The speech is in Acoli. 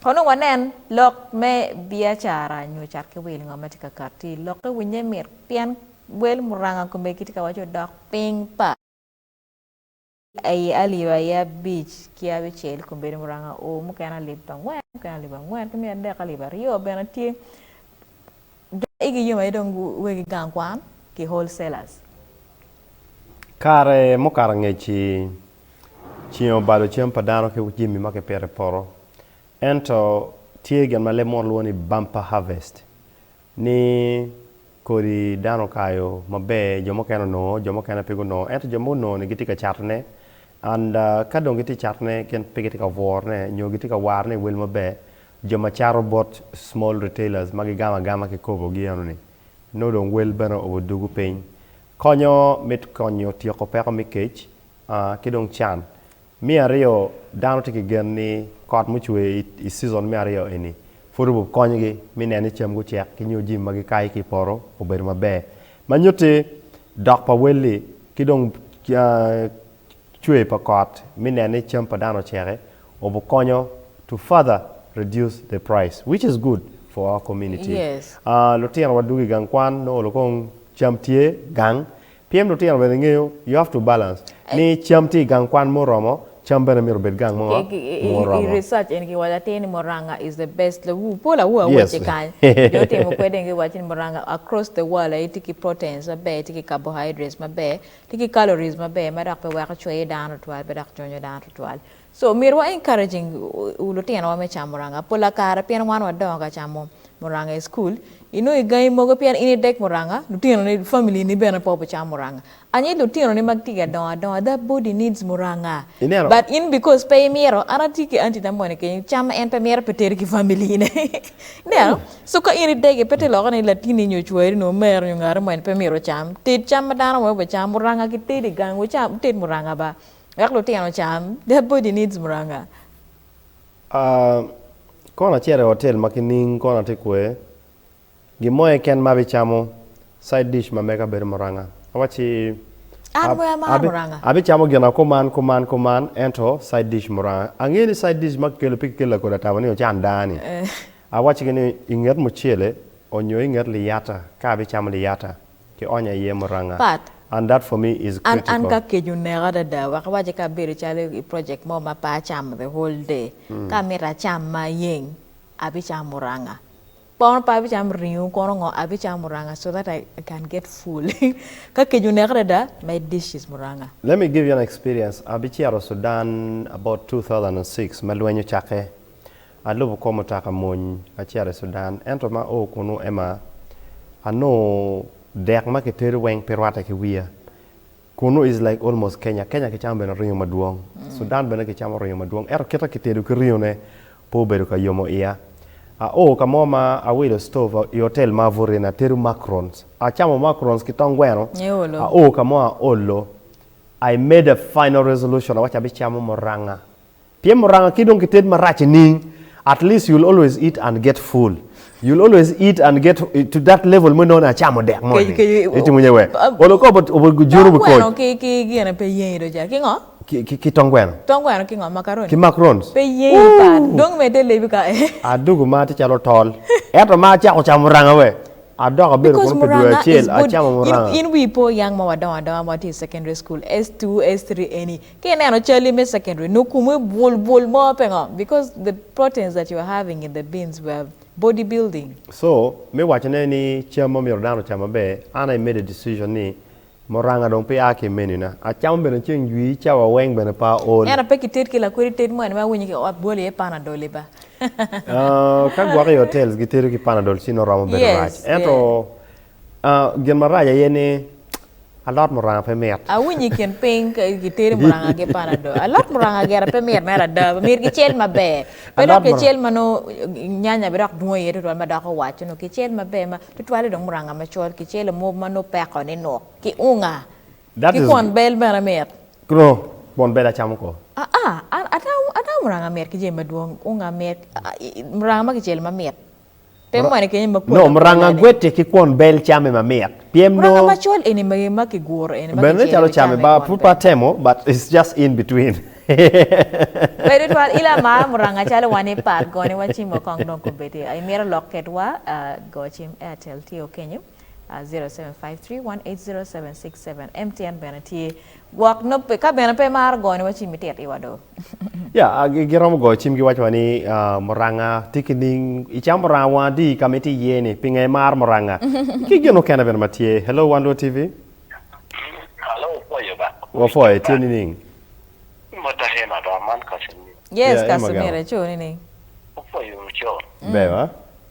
Kono wanen lok me biacara nyo cat ki wil, ngo ma tye ka kat ti? Lokke winye mit pien wel muranga kome gitye ka waco dok piny pa. Aye alip aye abic ki abicel kombeddi muranga o, mukene alip angwen, mukene alip angwen ki miya adek, alip aryo bene tye jo ma igi yom aye dong wegi gang kwan ki wholesalers. Kare mukato angec-ci. Ceng obalo cam pa dano ki jami ma kipito i poto. Ento tye gin ma leb munu lwongo ni bumper harvest ni kodi dano okayo maber jo mukene onongo jo mukene pe gunongo ento jo ma onongo ni gitye ka catone and ka dong gitye ka catone gin pe gitye ka bwurone nyo gitye ka warone i wel maber jo ma cato bot small retailers ma gigamo agama ki kobogi eno ni nongo dong wel bene odugo piny. Konyo me konyo tyeko peko me kec ki dong can. Me aryo, dano tye ki gen ni kot mucwer i cizon me aryo eni pud obikonyogi me neno ni cam gucek ki nyo jami ma gikayo ki i poto obedo maber ma nyutti dok pa welli ki dong cwer pa kot me neno ni cam pa dano ocek-ki obikonyo to further reduce the price which is good for our community. Lutinowa dwogo i gang kwan nongo kong cam tye gang Pien lutino bene ngeyo, you have to balance, ni cam tye i gang kwan muromo, cam bene myero obed gang mo muromo. I research eni kiwaco atir ni muranga is the best, lawur pol awur awace kany, jo otimo kwede dong giwaco ni muranga across the world aye tye ki proteins maber, tye ki carbohydrates maber, tye ki calories maber ma dok pe weko cweyo dano tutwal pe dok conyo dano tutwal. So omyero wa encouraging lutino wa me camo muranga pola kare pien wan wa dongo ka camo muranga i school inongo i gangi mogo pien in idek muranga lutino ni family ni bene pe wa bicamo muranga anyi lutino ni ma gitye ka dongo adonga their body needs muranga but in because pe imito an atye ki aunty na moni kenyo cam en pe mito pe teri ki family ne ineno so ka in idegi pe tye lokke ni latini nyo cwari nyo omeri nyo ngati moni pe myero ocam ted cam ma dano mogo bicam muranga ki tedo i gang wucam wuted muranga ba Wek lutino cam, that body needs muranga. Aah kono acito i hotel ma kining kono atye kwe, gin mo aye ken ma abicamo, side dish ma mega bedo muranga. Awacci, An bene amarra Abi, muranga. abicamo gina kuman, kuman, kuman, ento side dish muranga. Angeyo ni side dish ma kikelo pe kikelo lakodi atabo ni ocan dani. Awaccigi ni inget mucele onyo inget liyata ka abicamo liyata. ki onya iye muranga. Pat. And that for me is An, an critical. ka kec oneka adada, wek iwacci ka abedo calo i project mo ma pe acamo the whole day, ka amito acam ma ayeng, abicamo muranga. Kono pe abicamo ringo kono ngo, abicamo muranga so that I can get full. Ka kec oneka adada, my dish is muranga. Let me give you an experience, abicito Sudan about two thousand and six ma lweny ocakke. Alubo kor mutoka mony acito i Sudan, ento ma oo kunu ema anongo dek ma kitedo weng pe rwatte ki wiya. Kunu is like almost Kenya. Kenya kicamo bene ringo madwong. Sudan bene kicamo ringo madwong ento kit ma kitedo ki ringo ne pe obedo ka yomo iya. A oo ka mo ma awilo stove i hotel ma abuto iye ni atedo macarons. Acamo macarons ki tong gweno. A oo ka mo aolo. I made a final resolution awaco abicamo muranga Pien muranga ki dong ki ted marac i ning, at least you'll always eat and get full. You'll always eat and get to that level mo inongo ni acamo dek mo ni. Itimo nye wer. Olo ko but obo juru bu koc. Tong gweno ki gine pe yengi do ca. Ki ngo? Ki tong gweno. Tong gweno ki ngo? Macaroni? Ki macarons. Pe yengi pat. Dong medde lebi ka ee. Adugu ma tye calo tol. Eto ma acako camo muranga wer. Adoko abedo kunu pi dwe acel acamo muranga. Because muranga is good. In wii po yang ma wadongo adonga ma watye i secondary school, S2, S3 eni, Ki ineno calli me secondary nongo komi bul bul mo pingo? Because the proteins that you're having in the beans were body building. So, me wacone ni cam ma myero dano ocam maber, an I made a decision ni muranga dong pe a ki i menu na. Acamo bene ceng jwi, cawa weng bene pe aol. Ento pe ki ted ki lakwedi ted mo eni ma awinyo ki ot bwolo iye panadol i ba. Ka gwok i hotels gitedo ki panadol ci nongo romo bedo rac. Yes, ento. yeah. Gin marac aye ni alot muranga pe mit. Awinyo i kin piny gitedo muranga ki panado. Alot muranga gire pe mit mere ada. Myero kicel maber. Pe dok kicel ma nongo nyanya bidok dwong iye tutwal ma doko waco nongo kicel maber ma tutwale dong muranga macol kicelo mob ma nongo peko ni nuk ki unga ki kwon bel bene mit. Nongo kwon bel acamo kor? Aa, an atamo muranga mit ki jami madwong. Unga mit, muranga ma kicelo mamit. Nom ranga gwete ki kwon bel camme ma mit. Pyem nongo. Ranga macol eni ma ma ki guro eni ma ki celo calo camme ba pud pe atemo but it's just in between. Bedo twal il a mar muranga calo wa ni part gone wa cim wa kong dong ko bedi a imito lok ket wa go cim Airtel tye o kenyo. 0753180767 MTN bene tye gwok nobbe ka bene pe imaro goyo niwa cim itit iwa do. Ya, a, gi- giromo goyo cim giwaco wa ni ah, muranga tye ki ning icam muranga wang adi ka ma itye iye-ni pinga imaro muranga ki gin mukene bene ma tye hello wan lwod tv Hello, pwoyo ba. wapwoyo itye nining Mota hema ba man ka sini. Yes, Yeah, Emma Kasumira Gama. ico nining? Opwoyo co. ber wa